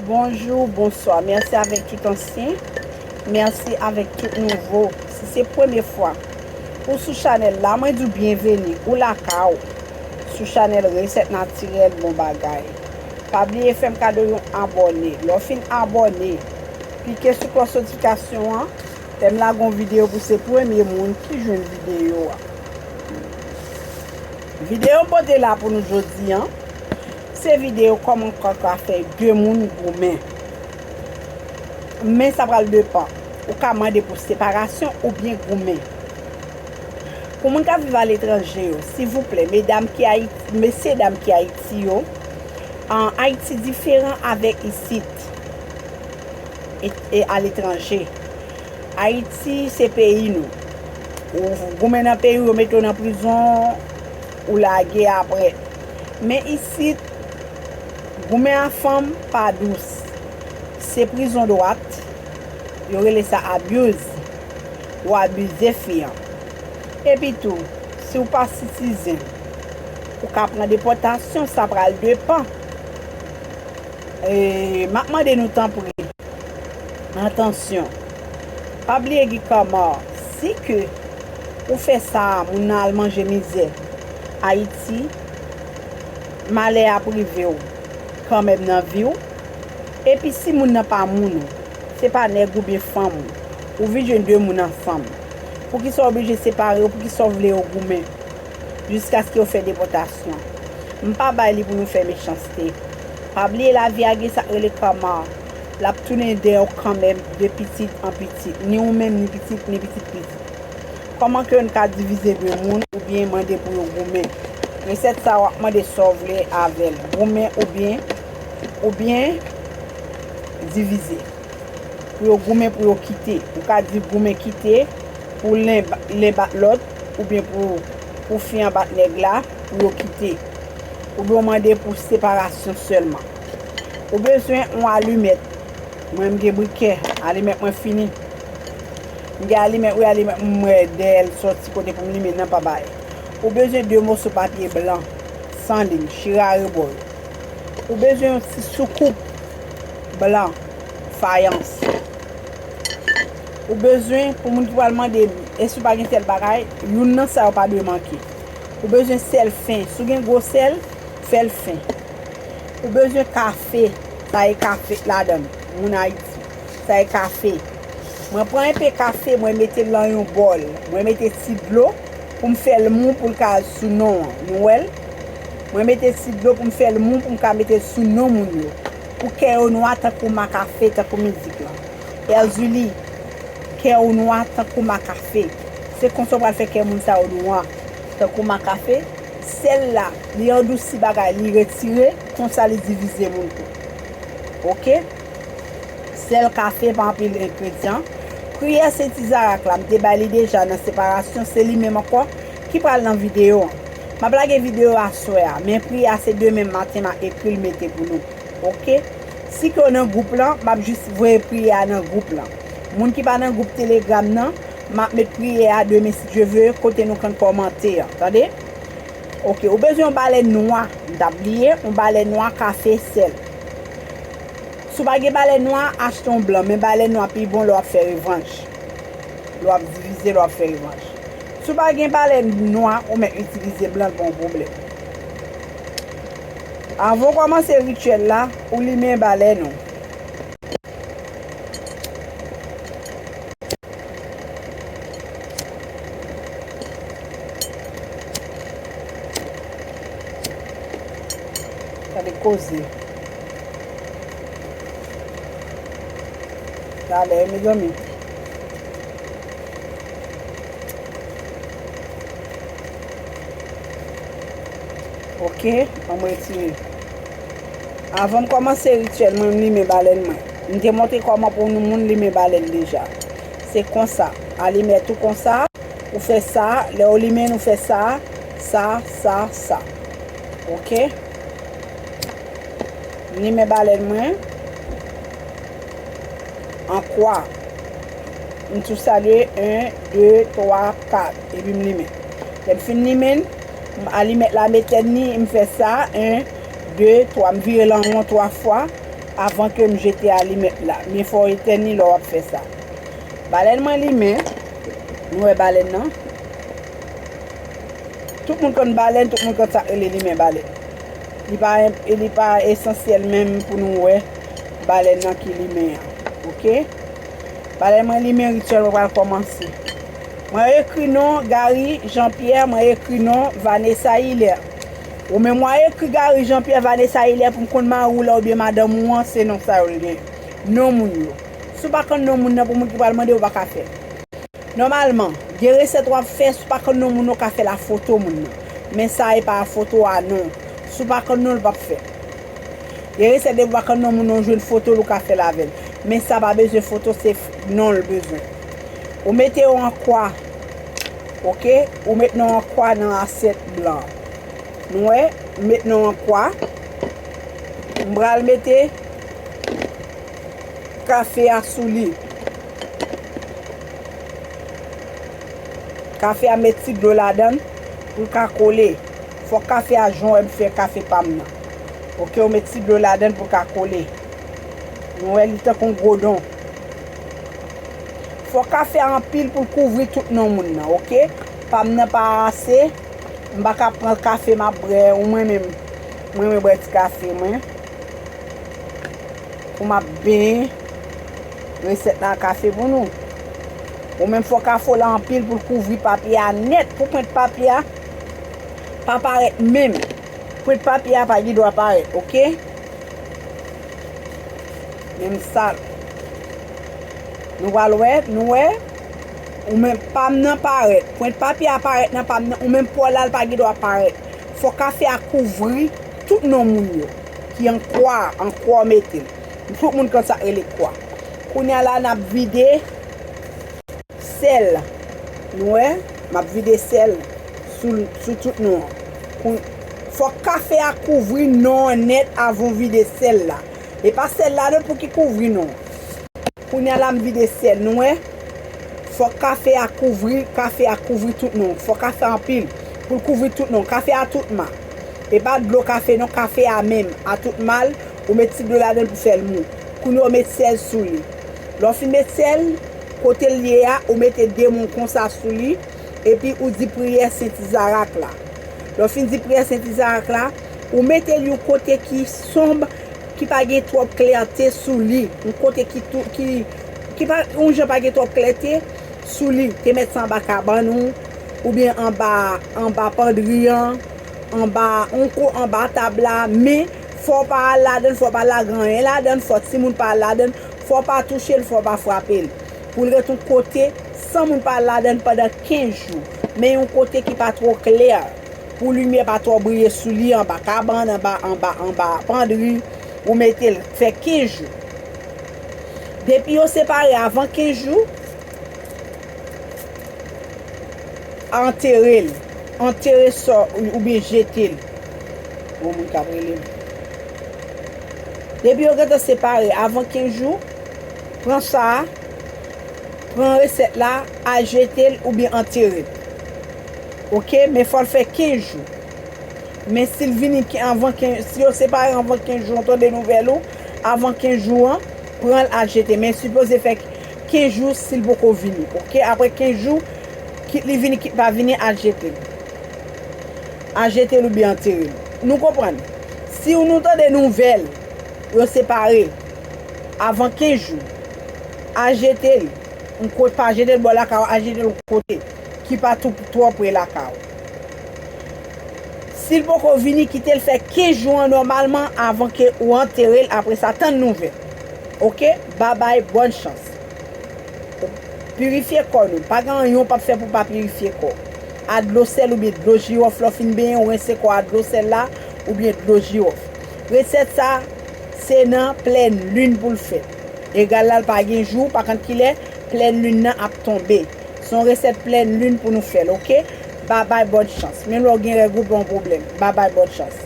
Bonjou, bonswa, mèsi avèk tout ansyen, mèsi avèk tout nouvo. Si se premye fwa ou sou chanèl la, mwen di w byenveni, ou lakay ou sou chanèl Resèt Natirèl Bon Bagay. Pa bliye fè m kado yon abòne. Lè w fin abòne, klike sou klòch notifikasyon an, lè m lage yon videyo pou w se premye moun ki jwenn videyo a. Videyo m pote la pou nou jodi an, Se video koman ou ka ka fè 2 moun goumen. Men sa pral depan. Ou ka mande pou separasyon oubyen goumen. Pou moun kap viv aletranje yo, sivouplè, medam ki Ayiti, mesye dam ki Ayiti yo, Ayiti diferan avèk isit e aletranje. Ayiti se peyi nou. Ou goumen nan peyi ou, yo mete w nan prizon. Ou lage aprè. Men isit, goumen a fanm pa dous. Se prizon dwat. Yo rele sa abuse. Ou abize fi an. Epi tou, si ou pa citizen, ou ka pran depòtasyon. Sa pral depan. Map mande nou tanpri. Atansyon! Pa bliye Guy Carmard, si ke ou fè sa a moun nan al manje mizè. Ayiti, malè ap rive w kanmenm nan vi w. Epi si moun nan pa moun ou, se pa nèg ou byen fanm ou, ou vin jwenn 2 moun ansanm. Poukisa w oblije separe yo, poukisa w vle yo goumen? jiskaske yo fè depòtasyon. M pa bay li pou nou fè mechanste. Pa bliye lavi a gen sa k rele karma. L ap tounen dèyè w kanmenm de pitit an pitit, ni ou menm ni pitit ni pitit pitit. Kòman ke yo n ka divize de moun oubyen mande pou yo goumen? Resèt sa w ap mande sa w vle avè l, goumen oubyen oubyen divize. Pou yo goumen pou yo kite. Ou ka di goumen kite pou len bat lòt. oubyen pou pou fi an bat nèg la pou yo kite oubyen ou mande pou separasyon sèlman ou bezwen yon alimèt mwen m gen brikè alimèt mwen fini m gen alimèt wi alimèt m mwen dèyè l sòti kote pou m limen nan pa bay ou bezwen 2 moso papye blan san lin chire arebò yo ou bezwen yon ti soukoup blan fayans. Ou bezwen pou moun ki pral mande l, èske li pa gen sèl bagay, youn nan sa yo pa dwe manke. Ou bezwen sèl fen, si w gen gwo sèl, fè l fen. Ou bezwen kafe, sa e kafe ladan l, moun Ayiti, sa e kafe. Mwen pran enpe kafe, mwen mete l lan yon bòl, mwen mete ti dlo pou m fè l mou pou l ka sou non an, nou wè l? Mwen mete ti dlo pou m fè l mou pou m ka mete l sou non moun yo, pou kè yo nwa tankou ma kafe, tankou mizik lan. Erzuli, kè ou nwa tankou ma kafe. Se konsa ou pral fè kè moun sa yo nwa tankou ma kafe. Sèl la, li andousi bagay, li retire, konsa li divize moun tou. Ok. Sèl kafe pa anpil engredyan. Priyè Sen Tizarak la, m te bay li deja nan separasyon, se li menm ankò ki pral nan videyo an. M ap lage videyo aswè a, men priyè a se demen maten m a ekri l mete pou nou. Ok si ke w nan group lan map jis voye priyè a nan group lan moun ki pa nan group telegram nan map met priyè a demen si Dye ve kote nou kan kòmante an tande ok ou bezwen yon balèn nwa m ta bliye yon balèn nwa ka fè sèl si w pa gen balèn nwa achte yon blan men balèn nwa pi bon lè wap fè revanj lè wap divize lè wap fè revanj si w pa gen balèn nwa ou mèt itilize blan l pa yon pwoblèm. Avan w kòmanse rityèl la, ou limen balèn ou. Gade koze. Talè, mezanmi. Ok anm retire. Avan m kòmanse rityèl mwen m limen balèn mwen. M te montre kòman pou yon moun limen balèn deja. Se konsa. Alimèt ou konsa, ou fè sa, lè ou limen l ou fè sa, sa, sa, sa. Ok. M limen balèn mwen. An kwa. M tou salye 1, 2, 3, 4. Epi m limen. Lè m fin limen l. M alimèt la metèn ni, m fè sa 1, 2, 3, m vire l an won 3 fwa avan ke m jete alimèt la. Byen fè w etèn li lè w ap fè sa. Balèn mwen limen, nou wè balèn nan. Tout moun konn balèn, tout moun konn sa k rele limen balèn. Li pa, li pa esansyèl menm pou nou wè balèn nan ki limen an. Ok? Balèn mwen limen, rityèl mwen pral kòmanse. Mwen ekri non Garry Jean Pierre mwen ekri non Vanessa Hilaire ou men mwen ekri Garry Jean Pierre Vanessa Hilaire pou m konn mari w la oubyen madanm ou an se non sa yo l gen non moun yo si w pa konn non moun nan pou moun ki pral mande w pa ka fè nòmalman gen resèt w ap fè si w pa konn non moun nan w ka fè l a foto moun nan men sa e pa a foto a non si w pa konn non l pap fè gen resèt depi w pa konn non moun nan w jwenn foto l ou ka fè l avè l men sa pa bezwen foto se non l bezwen. Ou mete yo an kwa. Ok. Ou met nan an kwa nan asyèt blan. Nou wè. M met nan an kwa. M pral mete kafe a sou li. Kafe a met ti dlo ladan l pou l ka kole. Fòk kafe a jan w wè m fè kafe pa m nan. Ok. Ou met ti dlo ladan l pou l ka kole. Nou wè li tankou yon gwo don. Fò kafe a anpil poul kouvri tout non moun nan ok pam nan pa ase m paka pran kafe map brè ou mwen menm m renmen brè ti kafe mwen poum ap benyen resèt la kafe pou nou ou menm fò kafe w la anpil poul kouvri papye a nèt pou pwent papye a pa parèt menm pwent papye a pa gendwa parèt ok. Menm sak Nou pral wè Nou wè Ou menm pam nan parèt Pwent papye a parèt nan pam nan Ou menm paw la pa gen dwa parèt Fò kafe a kouvri Tout non moun yo Ki an kwa a An kwa w mete l Tout moun konn sak rele kwa Kounya la nap vide Sèl Nou wè Map vide sèl Sou tout non an Fòk kafe a kouvri non an nèt avan w vide sèl la. E pa sèl la non pouki kouvri nou. Kounya la m vide syèl nou wè. Fòk kafe a kouvri kafe a kouvri tout nou. Fò kafe a anpil pou l kouvri tout nou. Kafe a tout ma. E pa dlo kafe non kafe a menm a tout ma l. Ou met ti dlo ladan l pou fè l mou. Kounya w met syèl sou li. Lè w fin met syèl, kote l ye a ou mete de moun konsa sou li epi ou di priyè sent izarak la. Lè w fin di priyè sent izarak la. Ou mete l yon kote ki sonb, ki pa gen twòp klète sou li. Yon kote ki tou, ki, ki pa, yon jan pa gen twòp klète sou li. Te met sa anba kabann ou, oubyen anba, anba pandri an, anba, yon ko anba tab la. Men, fò w pa al ladan l, fò w pa lage anyen ladan l, fò timoun pa al ladan l, fò w pa touche l, fò w pa frape l. Pou l ret yon kote, san moun pa al ladan l pandan 15 jou. Men yon kote ki pa twò klè. Pou limyè pa twò briye sou li anba kabann, anba, anba, anba pandri, ou mete l fè 15 jou. Depi yo separe avan 15 jou, antere l. Antere sò oubyen jete l. Gon moun k ap rele m. Depi yo gen tan separe avan 15 jou, pran sa, pran resèt la, al jete l oubyen antere l. Ok men fòl fè 15 jou. Men sil vini avan 15 jou si yo separe avan 15 jou an tande nouvèl ou avan 15 jou an pranl al jete men sipoze fè 15 jou sil poko vini ok aprè 15 jou kit li vini kit pa vini al jetel al jetel oubyen anterel nou konprann siw nou tande nouvèl yo separe avan 15 jou al jetel yon kote pa jetel bò lakaw al jetel yon kote. ki pa tou twò pre lakay ou. Si l poko vini, kite l fè 15 jou an nòmalman avan ke ou antere l apre sa tann nouvèl. Ok, babay bòn chans. Pirifye kò nou. Pa gen anyen w pap fè pou w pa pirifye kò. A dlo sèl oubyen dlo jiwòf lè w fin benyen ou rense kò a dlo sèl la oubyen dlo jiwòf. Resèt sa se nan plèn lin pou l fèt. Egal la l pa gen jou, pa kont kilè plèn lin nan ap tonbe. Se yon resèt plèn lune pou nou fèl ok. Babay bonne chance. Menm lè ou gen règ ou pa yon problème. Babay bonne chance.